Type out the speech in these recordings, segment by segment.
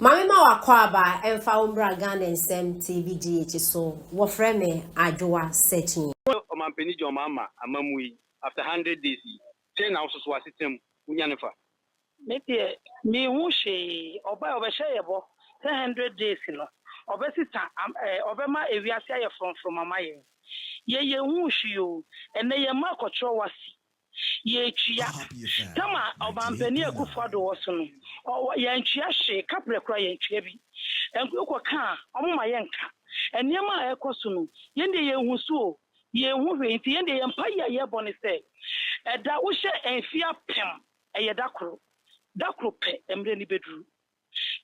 Mame ma w'akwaaba ɛmfa wo mbra Ghana nsɛm TV di akyi so wɔfrɛ me Adwoa Sekyii. Wo Ɔmanpanin John Mahama amammuo yi after hundred days yi sɛn na wososo asetena mu? Wo nyane fa. Me deɛ me hu hwee. Ɔbaɛ ɔbɛhyɛ yɛ bɔ sɛ hundred days no ɔbɛ sesa am ɛɛ ɔbɛma ewiase ayɛ frɔmfrɔm ama yɛn. Yɛ yɛ hu hwee oo. Ɛnɛ yɛn mma akɔtwerɛ wasi Yɛretua tam a Ɔmanpanin Akufo Addo wɔ so no, ɔwɔ, yɛantua hwee, kaprɛ koraa yɛantua bi. Ɛnk, wokɔka a, wɔmma yɛnka. Nneɛma a ɛrekɔ so no, yɛn deɛ yɛnhu so o, yɛnhu hwee. Nti yɛn deɛ yɛn mpaeɛ a yɛrebɔ ne sɛ, ɛda, wohyɛ mfeɛ apem, ɛyɛ da koro. Da koro pɛ, mmerɛ no bɛduru.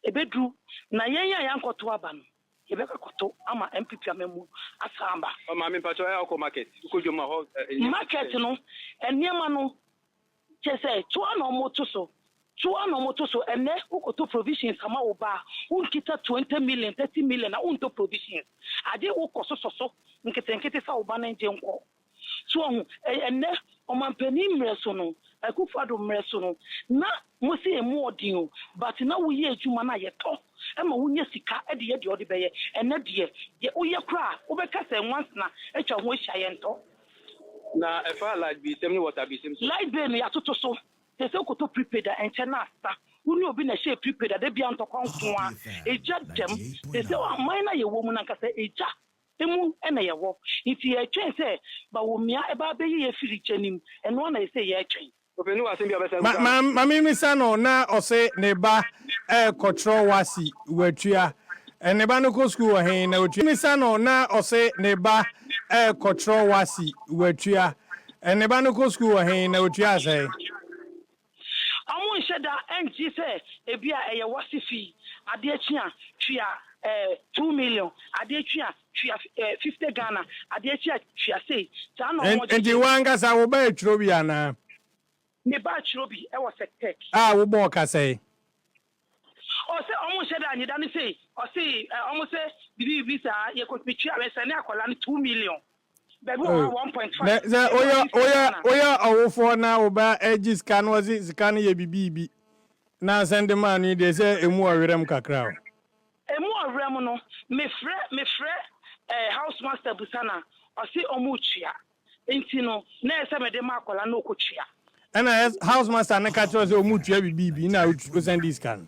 Ebeduru na yɛn a yɛankɔto aba no, yɛbɛkɔ akɔto ama NPP amammuo asan aba. Ɔ maame mpakyɛ ɛ ɔkɔ market wokɔ dwom a hɔ ɛ nneɛma. Market no nneɛma no kyɛ sɛ toa na ɔmo to so toa na ɔmo to so ɛnɛ wokɔtɔ provisions ama wo ba a wonkita twenty million thirty million a wontɔ provisions ade wokɔ sosɔ so nketenkete sɛ wo ba no ngye nkɔ So wahu? Ɛnnɛ, ɔmanpanin mmerɛ so no, Akuffo Addo mmerɛ so no, na mose yɛn moɔden o, but na woyɛ adwuma no a yɛtɔ ma wonya sika de yɛ deɛ wode bɛyɛ. Ɛnnɛ deɛ, deɛ woyɛ koraa a, wobɛka sɛ nwansena atwa ho ahyia, yɛntɔ. Na ɛfa light bilsɛm ne water bilsɛm so? Light bill no, yɛatoto so. Seesei wokɔtɔ prepaid a, ɛnkyɛ na asa. Wo ne obi na ɛhyɛɛ prepaid a, da biara ntɔkwa nko ara. Egya dɛm. Seesei aman no a yɛwɔ mu no ankasa, egya. mu na yɛwɔ, ntsi yɛtwɛn sɛ Bawumia bɛabɛyi yɛn efir gya no mu, ɛno ara na yɛse yɛtwɛn. Opanyin wɔ asɛm bi a ɔbɛsan abisa anaa? Ma mimmisa no na ɔse ne ba rekɔkyerɛw wasi watua. Ne ba no kɔ skuul wɔ hen na otua? Mimmisa no na ɔse ne ba rekɔkyerɛw wasi watua. Ne ba no kɔ skuul wɔ hen na otua sɛn? Wɔnhyɛ da nte sɛ ebia ɛyɛ w'ase fi, adeɛ kye a, tua eh, two million, adeɛ kye a, tua eh, fifty Ghana, adeɛ kye a, tua sei. Saa na wɔn Nti gyegye. w'ankasa wo baa turo bi anaa? Mebaa turo bi wɔ Sɛktɛk. A, wobɔɔ ka sɛn? Ɔse ɔmo nhyɛ da nye da no sei ɔse ɔmo sɛ bibi bibi saa yɛ kotumi tua wɛ sɛne akɔla no two million bɛbi wɔ hɔ a one point five sɛ oyɛ oyɛ oyɛ ɔwofoɔ na woba ɛgye sika no ɔse sika no yɛ bibi bibi na asɛn de maa no yi deɛ sɛ emu ɔwerɛm kakra o. Emu ɔwerɛm no me frɛ me frɛ ɛɛ house master busa na ɔse ɔmo tua. Nti no na ɛsɛ mede ma akwadaa na ɔkɔtua. Ɛna house master no ka kyerɛ wo sɛ ɔmo tua bibi bi na osan di sika no.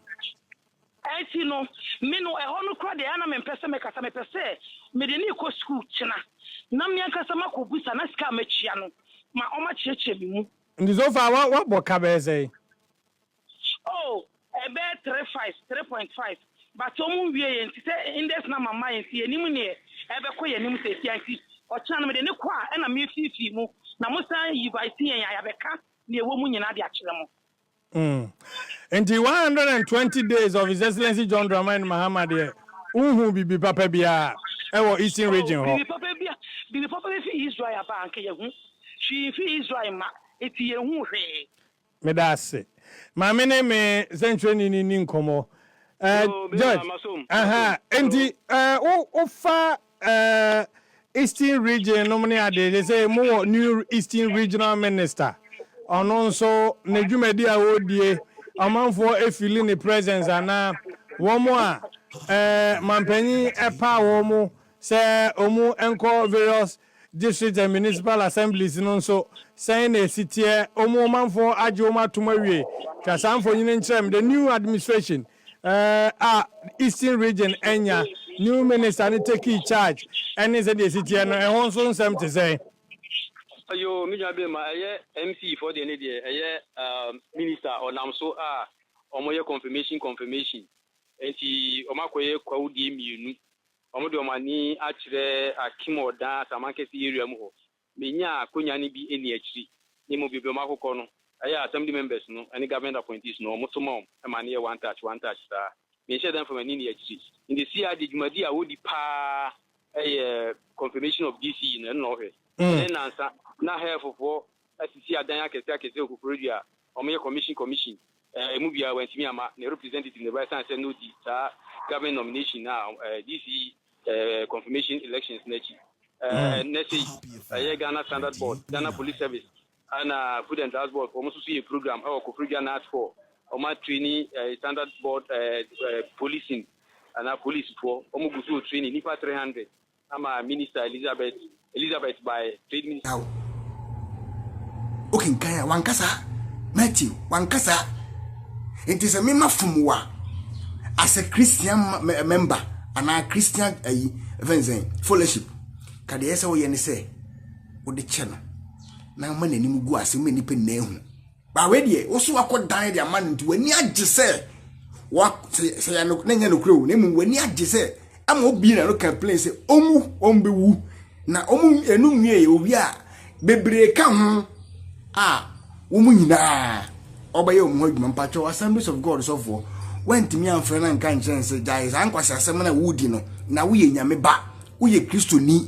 Nti no me no ɛhɔ no kora deɛ ana mempɛ sɛ mɛkasa mepɛ sɛ mede ne kɔ sukuu kyena na me ankasa makɔ busa na sika a matua no ma ɔmo akyerɛkyerɛ me mu. Nti so far wa wabɔ ka bɛyɛ sɛn? Oh ɛbɛyɛ three five three point five but ɔmo nwie yɛ nti sɛ index number mma yɛ nti yɛnim neɛ ɛbɛkɔ yɛ anim sɛsia nti ɔkyena no mede ne kɔ a ɛna mefiifii mu na mo san yivite yɛn a yɛabɛka neɛ ɛwɔ mu nyinaa de akyerɛ mo. Mm. Nti 120 days of His Excellency John Dramani Mahama deɛ wonhuu biribi papa biara ɛwɔ Eastern Oh region hɔ. biribi papa bia biribi papa bɛfi Israel aba a anka yɛahu hwee mfi Israel mma nti yɛnhuu hwee. Meda ase. Ma me ne me sɛnkyerɛnni no nni nkɔmmɔ. Eh, Yoo, me George, nua, masom, aha, masom. enti Yoo. eh, wo, wofa eh, Eastern Region nom ne adeɛ, te sɛ mo wɔ New Eastern Regional Minister, ɔno nso ne dwumadi a ɔredie, ɔmanfoɔ efili ne presence anaa wɔn a eh, mampanyin ɛpaa wɔn sɛ wɔn nkɔ various District and Municipal Assemblies no nso, sɛn na esi teɛ? Wɔn ɔmanfo agye wɔn atom awie? Twa saa mfonyin no kyerɛ me. The new administration a Eastern Region anya, new minister no tekii charge ne sɛnea esi teɛ no, ɛho nso nsɛm te sɛn? Yoo, me nua bɛɛma, ɛyɛ MC foɔ deɛ ne deɛ, ɛyɛ minister ɔnam so a wɔyɛ confirmation confirmation, nti wɔakɔyɛ kwawudie mmienu Wɔde wɔn ani akyerɛ Akim Odan Asamankɛse area mu hɔ. Menyaa akonya no bi nni akyiri. Ne mu bebree wɔn akokɔ no, ɛyɛ a Assembly members no ne government appointees no wɔn to ma wɔn ma no yɛ one touch, one touch saa. Menhyɛ da mfa m'ani nni akyiri. Nti seesei ara deɛ dwumadi a wɔdi pa ara yɛ confirmation of DC no, ɛno na wɔhwɛ. Ɛnnɛ nnansa, na Herefordfoɔ asisi adan akɛse akɛse wɔ Koforidua a wɔyɛ commission commission a ɛmu biara wantumi amma ne representative no ba ɛsiane sɛ na ɔdi saa governing nomination no a ɛɛ DC ɛɛ confirmation elections no akyi. Ɛɛ nnɛ sei ɛyɛ Ghana Standard Board, Ghana Police Service ɛna Food and Drugs Board wɔn nso so yɛ program ɛwɔ Koforidua North Four wɔn a training ɛɛ Standard Board ɛɛ ɛɛ policing anaa police foɔ wɔn gu so wɔ training nnipa three hundred. Ama Minister Elizabeth Elizabeth by Trade Minister. Now, wokenkan a wanka saa matthew wanka saa nti sɛ mema fom wo a as a christian member anaa christian ayi eh, ɛfɛn sɛn fellowship ka deɛ ɛsɛ woyɛ ne sɛ wode kyɛ no na ma n'anim gu ase ma nnipa nyinaa hu ba wei deɛ wo so wakɔ dan de ama no nti w'ani agye sɛ sɛ yɛ no na nyɛ nokorɛ o na mmom w'ani agye sɛ ama obie na no complain sɛ ɔmu ɔmbɛwu na ɔmu ɛnu nwie yɛ owie a bebree ka ho a wɔn nyinaa ɔbɛyɛ wɔn ho adwuma mpakyɛw assemblies of god sɔfoɔ wantumi amfrɛ no anka nkyɛn sɛ gyae saa nkwasi asɛm na wodi no na woyɛ nyame ba woyɛ kristoni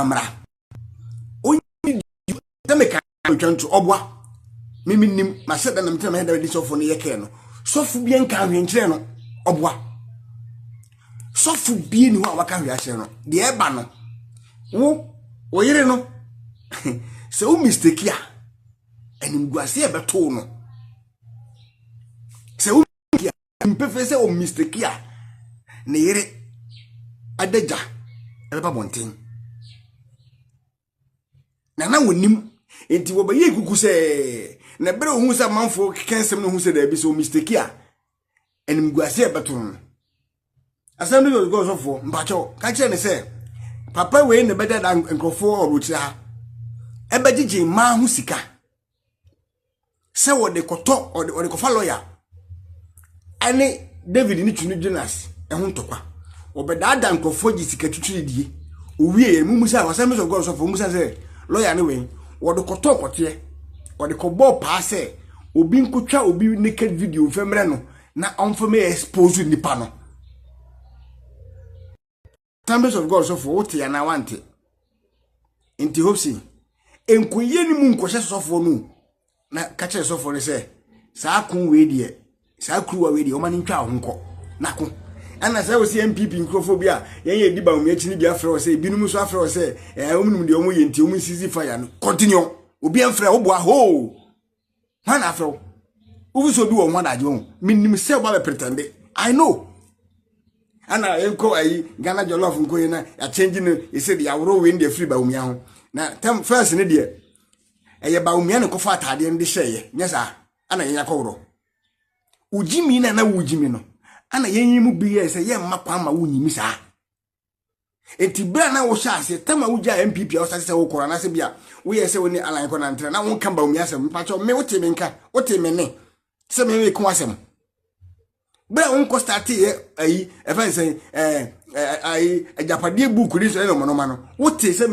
amara ɔnyi di sɛ meka atwa nto ɔboa mimi nim masɛ dɛ nam tena mɛhɛdɛ de sɔfo no yɛ kɛɛ no sɔfo bi nka ahwenkyerɛ no ɔboa sɔfo bi ni hɔ a waka hwɛ akyerɛ no deɛ ɛba no wo wo yere no sɛ wo mistake a animguase ɛbɛtoo no sɛ wo mistake a mpefee sɛ ɔmisteki a ne yere ɛde gya ɛbɛba bɔnten na na wɔnim nti wɔbɛyɛ kuku sɛ na ɛberɛ ohun sɛ amanfoɔ keka nsɛm no ohun sɛ daabi sɛ ɔmisteki a animguase a ɛbɛto no asɛm bi yɛ ɔdugɔ ɔsɔfoɔ mpakyɛw ka kyerɛ ne sɛ papa wei na ɛbɛda da nkurɔfoɔ ɔwɔ akyire ha ɛbɛgyegye mmaa ho sika sɛ wɔde kɔtɔ wɔde wɔde kɔfa lɔya ɛne david ne tunu jonas ɛho ntɔkwa wɔbɛdaadaa nkurɔfoɔ gye sika titiri die owie yɛ mumu sɛ wɔsɛm sɛ ɔgɔn sɔfo mumu sɛ sɛ lɔya ne wɛn wɔde kɔtɔ kɔteɛ wɔde kɔbɔɔ paa sɛ obi nkotwa obi naked video mfɛ mmerɛ no na ɔmfa mɛ expose nipa no Assemblies of God sɔfoɔ wote anaa wante nti hope si nkɔyie no mu nkɔhyɛ sɔfoɔ no na ka kyerɛ sɔfoɔ no sɛ saa ko wei deɛ saa kuruwa wei deɛ ɔma no ntwa ho nkɔ nako ɛna sɛ wo sɛ mpp nkurɔfoɔ bi a yɛn yɛ di ba wɔn akyi no bi afrɛ wɔ sɛ ebinom nso afrɛ wɔ sɛ ɛɛ wɔn nim deɛ wɔn yɛ nti wɔn nsisi fa ya no continue obi mfrɛ wo boa hoo. hwan na afrɛ wo wofi sɛ obi wɔ ho adagye ho menim sɛ woba bɛ pretende i know ana yɛnkɔ ayi ghana jollof nkɔ yi na yɛakyɛngye no yɛsɛ de yɛaworɔ wei no deɛ firi bawumia ho na tam fɛs no deɛ ɛyɛ bawumia ne kɔfa ataadeɛ no de hyɛeɛ nyɛ saa ana yɛn akɔworɔ wogyimi no ana wogyimi no ana yɛnyi mu bi yɛ sɛ yɛmma kwan ma wonyimi saa nti berɛ a na wohyɛ aseɛ tam a wogyaa npp a wosase sɛ wokɔ anaasɛ bi a woyɛ sɛ wo ne alan kɔ nantere na wonka baomi asɛm mpakyɛ me wote me nka wote me ne sɛ me ne ko asɛm berɛ a wonkɔ stateeɛ ayi ɛfɛ nsɛn ayi agyapadeɛ buuku ne sɛ ɛnɔmɔnɔma no wote sɛ